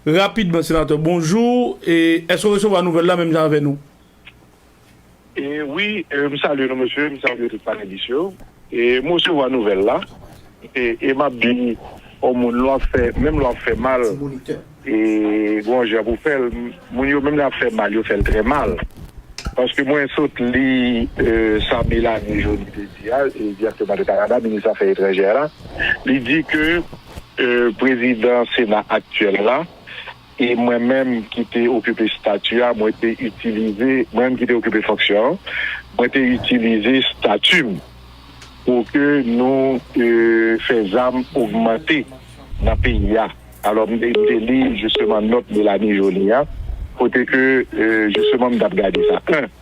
Rapidman senatè bonjou e eske w resevwa nouvèl la menm jan avè nou? Wi m salye nou mesye, m salye tout panelis yo e m resevwa nouvèl la e m ap di on moun lè w ap fè menm lè w ap fè mal e gen yon jan pou w fè l moun yo menm lè y ap fè mal yo fè l trè mal paske mwen sot li sa Melanie Joly te di a direktè Minis afè etranjè la li di ke Prezidan Sena aktyèl la, e mwen menm ki te okipe stati a, mwen te itilize, mwen menm ki te okipe fonksyon an, mwen te itilize stati m pou ke nou fè zam ogmante nan peyi a. Alò, m te li jisteman nòt Mélanie Joly a, kote ke jisteman m t ap gade sa. 1.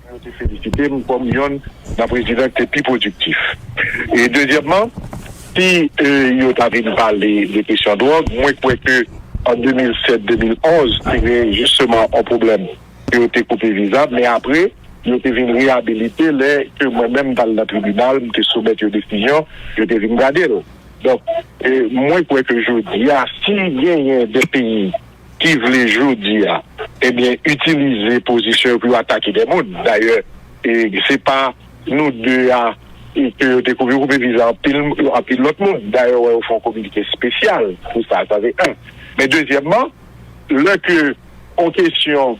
Pou yo te felisite m kòm yonn nan prezidan ki te pi pwodiktif. E dezyèmman, si yo ta vin pale de kesyon dwòg, mwen kwè ke an 2007, 2011, te gen jisteman yon pwoblèm ke yo te koupe viza, men apre, yo te vin reyabilite lè ke mwen menm m t al nan tribinal, m te soumèt yon desizyon, yo te vin gade l. Donk, mwen kwè ke jodi a, si genyen de peyi. ki vle jodi a ebyen itilize pozisyon yo pou yo atake de moun dayè se pa nou 2 a ke yo te koupe yo koupe viza anpil lòt moun dayè ou wè yo fè yon kominike espesyal pou sa sa se 1 men dezyèmman lè ke yon kesyon.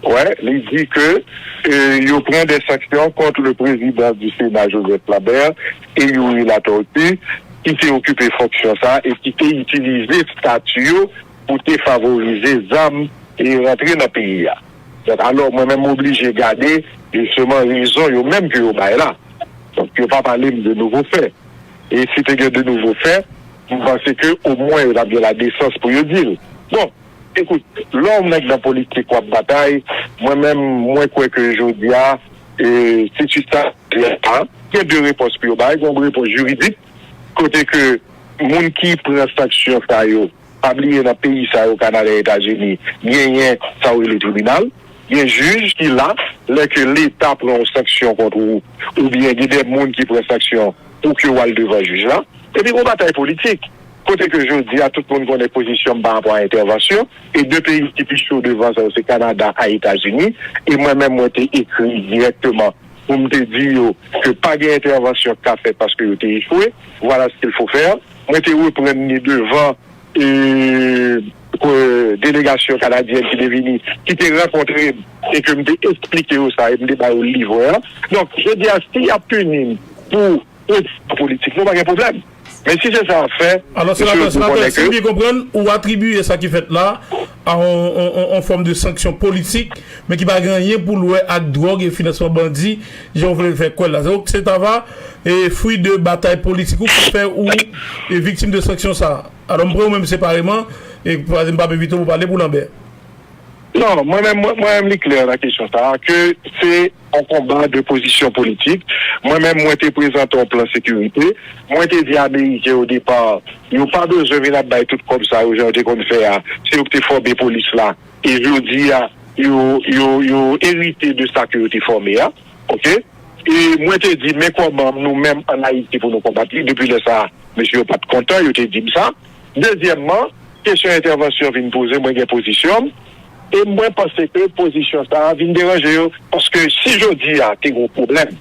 Wè, li di ke yo pran dè sanksyon kont le prezidan di Sena Joseph Lambert e Youri Latortue ki te okipe fonksyon sa a e ki te itilize stati yo pou te favorize zam e rantre nan peyi a. Donk alò mwen menm m oblije gade jisteman rezon yo menm ke yo bay la. Donk yo pa pale m de nouvo fè. E si te gen de nouvo fè, m panse ke omwen yo t ap gen ladesans pou yo di l. Bon, Ekout, lè w mèt nan politik w ap batay, mwen menm mwen kwè ke jodi a, se sou sa peyi a chita. Gen de repons pou yo bay, gen yon repons jiridik kote ke moun ki pran sanksyon sa yo, pa bliye nan peyi sa yo Kanada, Etazini, genyen sa yo rele tribinal, gen jij ki la, lè ke leta pran yon sanksyon kont ou, oubyen gen de moun ki pran sanksyon pou ke w al devan jij la, epi gen yon batay politik. Kote ke jodi a tout moun konnen pozisyon m pa rapò a entèvansyon, e 2 peyi ki pi cho devan sa yo se Kanada a Etazini, e mwen menm mwen te ekri dirèkteman pou m te di yo ke pa gen entèvansyon k ka fèt paske yo te echwe, voilà ce qu'il faut faire. Mwen te reprann li devan delegasyon kanadyèn ki te vini, ki te rankontre m e ke m te esplike yo sa e m te ba yo livre an. Donk, jodi a si y ap pini m pou pozisyon politik mwen, pa gen pwoblèm. Men si se sa wap fè, Alò senatè, senatè, si m byen konprann, ou atribiye sa ki fèt la a yon fòm de sanksyon politik, men ki pa gen anyen pou l wè ak dwòg e finansman bandi jan ou vle l fè kwè l la. Donk se ta va fwi de batay politik ou ki fè ou viktim de sanksyon sa a. Alò m pran ou menm separeman, paske m pa p evite w pou pale pou Lanbè. Non, mwen menm, mwen menm li klè nan kesyon sa a ke se yon konba de pozisyon politik. Mwen menm mwen te prezante yon plan sekirite. Mwen te di ameriken o depa yo pa bezwen vin ap bay tout kòb sa yo jan yo te konn fè a, se yo ki te fòme polis la e jodi a yo, yo, yo erite de sa ke yo te fòme a. Ok? E mwen te di men kòman nou menm an Ayiti pou nou konbat li. Depi lè sa a, mesye yo pa t kontan, yo te di m sa. Dezyèmman, kesyon entèvansyon vin poze, mwen gen pozisyon m e mwen panse ke pozisyon sa a vin deranje yo. Paske si jodi a te gen yon pwoblèm,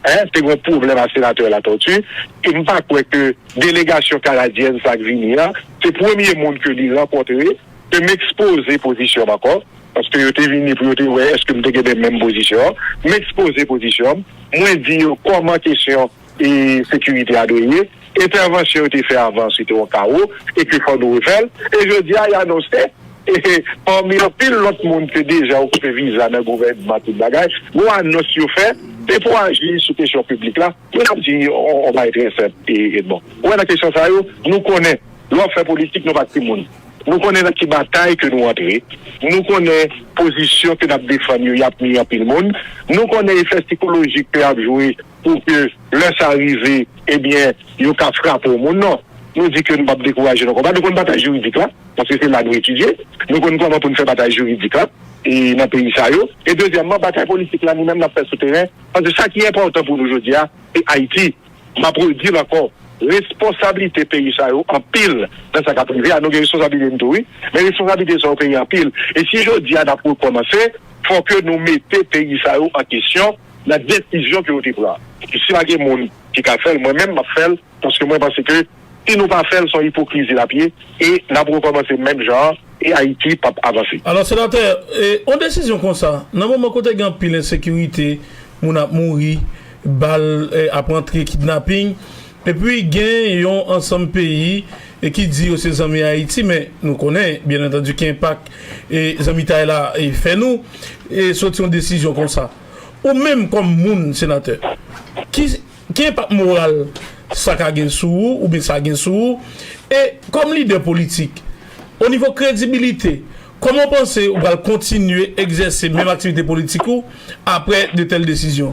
te gen yon pwoblèm ak Senatè Latortue, e m pa kwè ke delegasyon kanadyèn sa a k vini an se premye moun ke li rankontre, ke m ekspoze pozisyon m ankò, paske yo te vini pou yo te wè èske m te gen menm pozisyon an, m ekspoze pozisyon m, mwen di yo kòman kesyon. e sekirite a dwe ye, entèvansyon yo te fè avan se te yon kawo epi fò nou refè l, e jodi a y anonse e pami anpil lòt moun te deja okipe viza nan gouvènman tout bagay, yon anons yo fè se pou aji sou kesyon piblik la, mwen ap di yon bagay trè senp Edmond, ou wè nan kesyon sa yo nou konnen lè w ap fè politik nou pa timoun, nou konnen nan ki batay ke nou antre, nou konnen pozisyon ke n ap defann yo y ap nui anpil moun, nou konnen efè sikolojik ke y ap jwe. pou ke lè sa rive, ebyen, yo ka frape yon moun. Non, nou di ke nou pa p dekouraje nan konba. Nou konn batay jiridik la, paske se la nou etidye. Nou konn kòman pou nou fè batay jiridik la nan peyi sa yo. E dezyèmman, batay politik la, nou menm n ap fè sou teren, paske sa ki enpòtan pou nou jodi a, se Ayiti. M ap redi l ankò, responsablite peyi sa yo anpil nan sa k ap rive a. Nou gen responsablite nou tou wi, men responsablite sa yo peye anpil. E si jodi a n ap rekòmanse, fò ke nou mete peyi sa yo an kesyon. Nan desizyon ke yo te pran. Epi si pa gen moun ki ka fèl mwen menm map fèl paske mwen panse ke si nou pa fèl son ipokrizi lap ye e nap rekòmanse menm jan an e Ayiti pap avanse. Alò senatè, yon desizyon konsa nan moman kote gen anpil ensekirite, moun ap mouri, bal ap antre, kidnaping. Epi gen yon ansanm peyi ki di yo se zanmi Ayiti men nou konnen byen antandi ki enpak zanmitay la fè nou soti yon desizyon konsa. Ou menm kòm moun, Senatè, ki enpak moral sa ka gen sou ou oubyen sa gen sou ou? E kòm lidè politik, o nivo kredibilite, kòman ou panse ou pral kontinye egzèse menm aktivite politik ou aprè de tèl desizyon?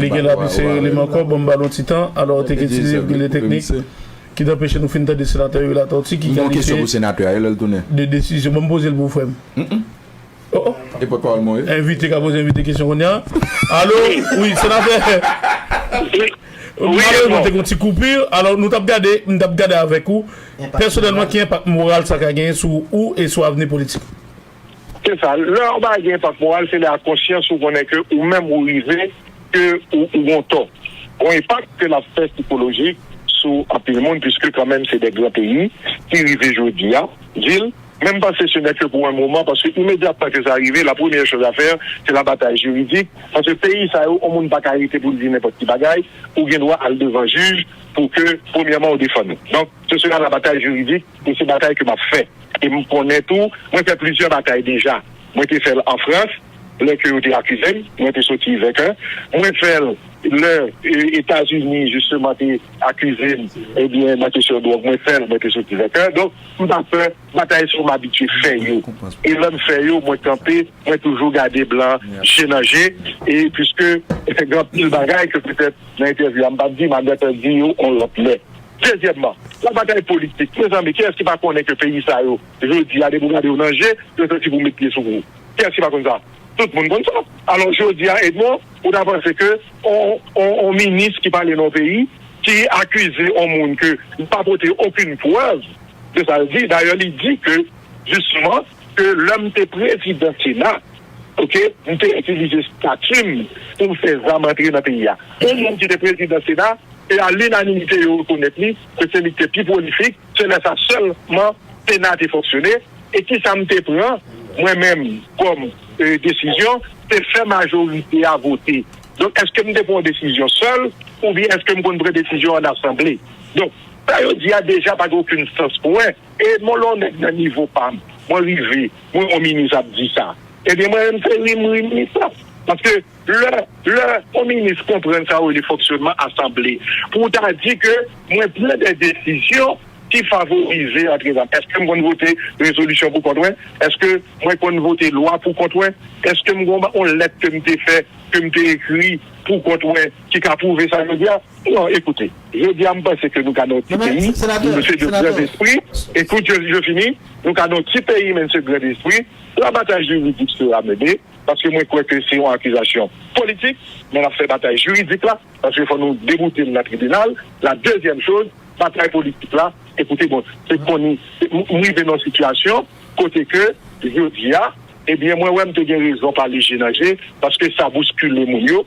Li gen la pi sere li m ankò bon m ba l yon ti tan alò te k itilize pil de teknik ki t anpeche nou fin tande senatè Youri Latortue ki kalifye de desizyon ban m poze l pou ou frè m oh oh envite ka poze envite kesyon kounya alo wi senatè malerezman te k yon ti koupi alò nou t ap gade m t ap gade avèk ou pèsonèlman ki enpak moral sa ka genyen sou ou e sou avni politik ou. Se sa, lè yon bagay gen enpak moral se lè a konsyans ou konnen ke ou menm ou rive ke ou gon tò. Gon enpak ke lap fè sikolojik sou anpil moun puiske kanmenm se de gran peyi ki rive jodi a di l menm panse se nè ke pou en moman paske imedyatman ke sa rive la premyè choz a fè se la batay jiridik paske peyi sa yo yon moun pa ka rete pou l di nenpòt ki bagay ou gen dwa al devan jij pou ke premyèman ou defann ou. Donk se sera la batay jiridik. E se batay ke m ap fè. E m konnen tou, mwen fè plizyè batay deja. Mwen te fè l an Frans, lè ke yo te akize m, mwen te soti venkè. Mwen fè l lè Etazini jisteman te akize m, ebyen nan kesyon dwòg, mwen fè l, mwen te soti venkè. Donk, m pa pè, batay sa yo m abitye fè yo. E lè m fè yo, mwen kanpe, mwen toujou gade blan je nan je. E piske gen anpil bagay ke petèt nan entèvyou a m pa t di, m ap gentan di yo yon lòt lè. Dezyèmman, la batay politik. Mezanmi, kiyès ki pa konnen ke peyi sa yo, jodi a, depi ou gade yo nan je, yo santi pou met pye sou ou? Kiyès ki pa konn sa? Tout moun konn sa. Alò, jodi a, Edmond, ou ta panse ke yon, yon minis ki pale nan yon peyi, ki akize yon moun ke li pa pote okenn prèv de sa l di, dayè li di ke, jisteman, ke lè m te prezidan sena ok m te itilize stati m pou m fè zam antre nan peyi a yon moun ki te prezidan sena e a linanimite yo rekonèt li ke se li ki te pi pwolifik se lè sa sèlman sena te fonksyone e kisa m te pran mwen menm kòm desizyon se fè majorite a vote donk èske m te pran yon desizyon sèl oubyen èske m konn pran desizyon an asanble donk sa yo di a deja pa gen okenn sans pou mwen. E mon lò nèg nan nivo pam mwen rive mwen yon minis ap di sa ebyen mwen menm se ri m ri minis la paske lè lè yon minis konprann sa yo rele fonksyonman asanble pou w ta di ke mwen pran dè desizyon ki favorize antre zam eske m konn vote rezolisyon pou kont mwen eske mwen konn vote lwa pou kont mwen eske m gon yon lèt ke m te fè ke m te ekri pou kont mwen ki ka pwouve sa jodi a. Non, ekoute, jodi a m panse ke nou ka nan yon ti peyi, nou se de gran despri, ekoute je fini, nou ka nan yon ti peyi men nou se gran despri, la batay jiridik sera mene, paske mwen kwè ke se yon akizasyon politik, men n ap fè batay jiridik la, paske fò nou deboute l nan tribinal, la dezyèm choz, batay politik la, ekoute bon, se koni, m rive nan yon sitiyasyon kote ke jodi a, ebyen mwen wè m te gen rezon pale je nan je, paske sa bouskile moun yo.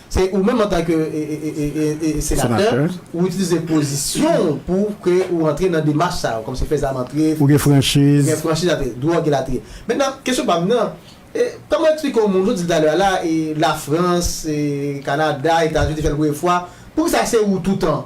Se ou menm antanke senatè ou itilize pozisyon ou pou ke ou antre nan demach sa yo, kòmsi fè zam antre, ou gen franchiz, dwòg elatriye. Mentnan, kesyon pa m nan, kòman ou eksplike yon moun, ou di l talè a la, Lafrans, Kanada, Etazini te fè l premye fwa, poukisa se ou toutan?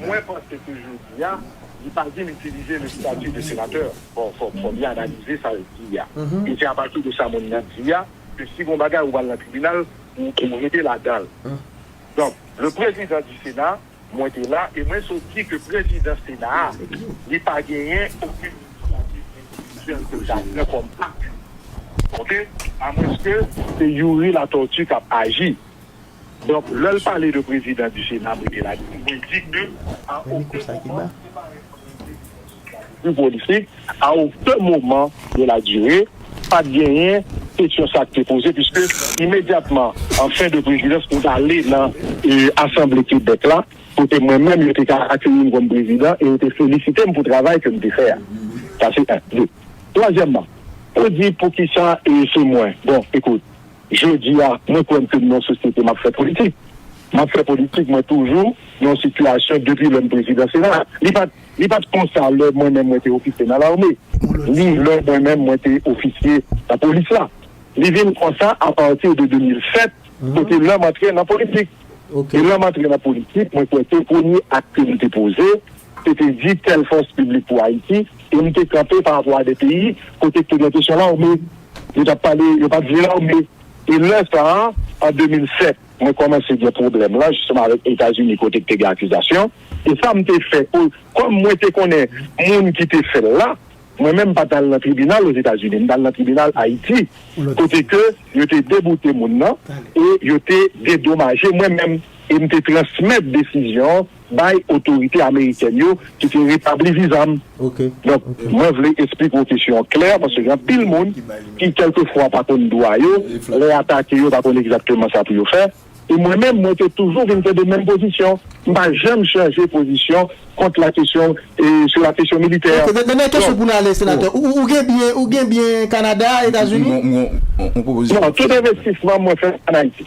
Mwen panse ke jodi a, li pa di l itilize le statut de senateur. Bon, fò li analize sa l di a. E se apati de sa moun nan di a, ke si gon bagay ou pral nan tribinal, ou rete ladan l. Donk, le prezidan di sena, mwen te la, e mwen sot di ke prezidan sena a, li pa genyen okenn inisyativ endividyèl ke l ta pran kòm api. Ok? Amwenske se Youri Latortue k ap aji. Donk lè l pale de prezidan di sena mwen te la di mwen digne a oken moman du politik a oken moman de la dire pat genyen kesyon sa ki te poze puiske imedyatman an fen de prezidans nou t ale nan asanble Kebèk la kote mwen menm yo te ka akeyi m kòm prezidan e yo te felisite m pou travay ke m te fè a sa se 1 2 twazyèmman ou di poukisa se mwen bon ekout Jodi a, mwen kwè m ke m nan yon sosyete m ap fè politik. M ap fè politik, mwen toujou nan yon sitiyasyon depi lè m prezidan sena a. Li pa t li pa t konsa lè mwen menm mwen te ofisye nan lame, ni lè mwen menm mwen te ofisye nan polis la. Li vin konsa apati de 2007 kote lè m antre nan politik. E lè m antre nan politik, mwen kwè ke premye ak ke m te poze, te te di tèl fòs piblik pou Ayiti e m te kanpe parapò a de peyi kote ki te gen kesyon lame yo t ap pale yo pa t vle lame e lè sa a an 2007 mwen kòmanse gen pwoblèm la jisteman avèk Etazini kote ki te gen akizasyon e sa m te fè kòm mwen te konnen moun ki te fè l la mwen menm m pa t al nan tribinal Ozetazini m t al nan tribinal Ayiti kote ke yo te deboute moun nan e yo te dedomaje mwen menm e m te transmèt desizyon bay otorite amerikèn yo ki te retabli viza m. Donk, mwen vle esplik wou kesyon an klè, paske gen anpil moun ki kèlke fwa pa konn dwa yo, lè y atake yo pa konn egzakteman sa pou yo fè. E mwen menm, mwen te toujou vin kenbe menm pozisyon. M pa janm chanje pozisyon kont la kesyon, e sou la kesyon militè. Ok, dènye kesyon pou n ale, Senatè. Ou gen byen, ou gen byen Kanada, Etazini? M gen yon pwopozisyon. Non, tout envestisman mwen fè an Ayiti.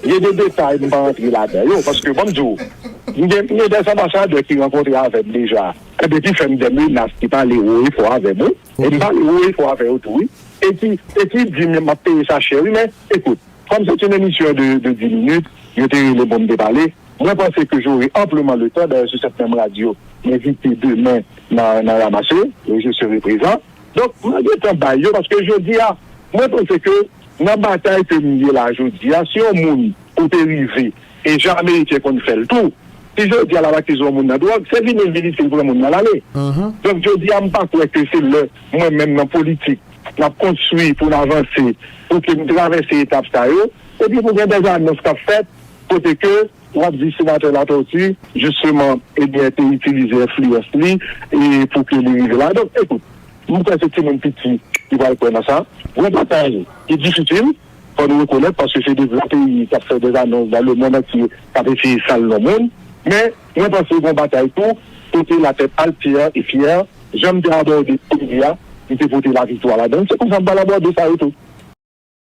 Gen de detay m pa rantre ladan yo paske banm di w m gen m gen des anbasadè ki rankontre avè m deja ebyen ki fè m des menas ki pale wo e fò avè m wi e m pale wo e fò avè yo tou wi e ki e ki di m map peye sa chè wi men ekout kòm se t yn emisyon de de 10 minit yo te rele m pou m te pale mwen panse ke j'aurai amplement le tan dayè sou sèt menm radyo m envite demen nan nan ramase e je serai prezan donk mwen gentan bay yo paske jodi a mwen panse ke Nan batay ke m ye la jodi a, si yon moun ou te rive, e jan Ameriken konn fè l tou, si jodi a l ap akize yon moun nan dwòg, se li menm ki di si l pran moun nan l ale. Donk jodi a m pa kwè ke se lè mwen menm nan politik n ap konstwi pou n avanse pou ke n travèse etap sa yo. Epi pou gen dèz anons k ap fèt kote ke w ap di Senatè Latortue jisteman ebyen te itilize enfliyans li e pou ke li rive la. Donk ekout, M kwè se timoun piti ki pral kwè nan sa. Gwo batay ki difisil, fò nou rekonèt, paske se 2 gran peyi k ap fè dè anons dan lemonn antye, k ap eseye sal non moun. Men, mwen panse gen yon batay tou kote latèt alt fyè e fyè. Jan m te abòde peyi a, m te pote laviktwa ladan l, se konsa m pral abòde sa yo tou.